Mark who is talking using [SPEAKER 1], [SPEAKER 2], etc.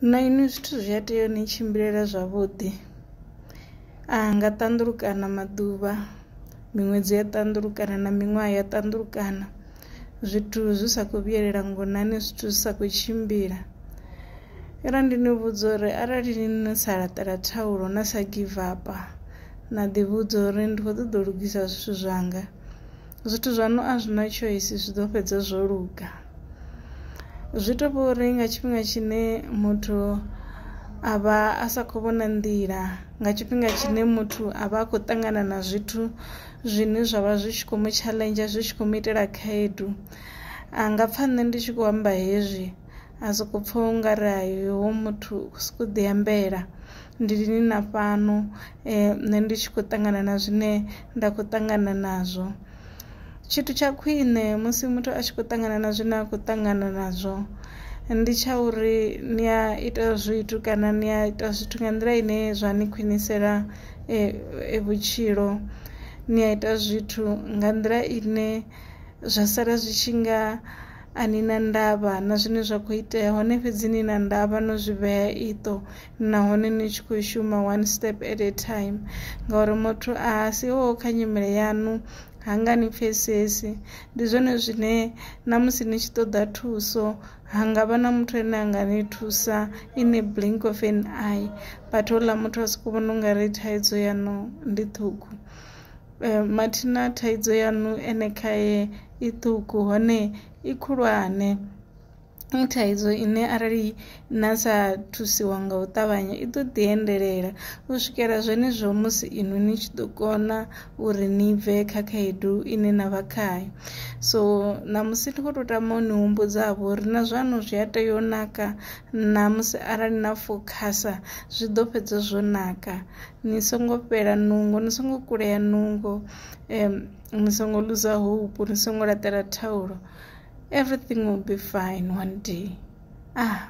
[SPEAKER 1] Na inwi zwithu zwi a tea u ni tshimbilela zwavhuḓi, a nga ṱanḓulukana maḓuvha, miṅwedzi ya ṱanḓulukana na miṅwaha ya ṱanḓulukana zwithu zwi sa kho vhuyelela ngonani zwithu zwi sa kho tshimbila. Yone ndi ni vhudza uri arali no sa laṱela thaulo na sa give up na ḓi vhudza uri ndi kho ṱoḓa u lugisa zwithu zwanga. zwithu zwaṋu a zwi na tshoisi zwi ḓo fhedza zwo luga zwi to vha uri nga tshifhinga tshine muthu a vha a sa khou vhona nḓila nga tshifhinga tshine muthu a vha a khou ṱangana na zwithu zwine zwa vha zwi tshi khou mu tshaḽenzha zwi tshi khou mu itela khaedu a nga pfha nṋe ndi tshi khou amba hezwi A sokou pfa u nga ri hai hoyu muthu u khou sokou ḓiambela ndi lini na fhano nṋe ndi tshi khou ṱangana na zwine nda khou ṱangana nazwo. Tshithu tsha khwine musi muthu a tshi khou ṱangana na zwine a khou ṱangana nazwo ndi tsha uri ni a ita zwithu kana ni a ita zwithu nga nḓila ine zwa ni khwinisela vhutshilo, ni a ita zwithu nga nḓila ine zwa sala zwi tshi nga a ni na ndavha na zwine zwa khou itea hone fhedzi ni na ndavha no zwi vhea iṱo nahone ni tshi khou shuma one step at a time ngauri muthu a si o kha nyimele yaṋu ha nga ni pfesesi ndi zwone zwine na musi ni tshi ṱoḓa thuso ha nga vha na muthu ane a nga ni thusa in a blink of an eye but houḽa muthu a soko vhona u nga ri thaidzo yaṋu ndi ṱhukhu E, mathina thaidzo yaṋu ene khae i ṱuku hone i khulwane i thaidzo ine arali na sa thusiwa nga u ṱavhanya i ḓo ḓi endelela u swikela zwenezwo musi inwi ni tshi ḓo kona uri ni bve kha khaedu ine na vha khayo so ṋamusi ndi khou tou tama u ni humbudzavho uri na zwaṋu zwi a tea u naka ṋamusi arali na fokhasa zwi ḓo fhedza zwo naka ni songo fhela nungo ni songo kulea nungo um, ni songo luza hope ni songo laṱela thaulo everything will be fine one day ah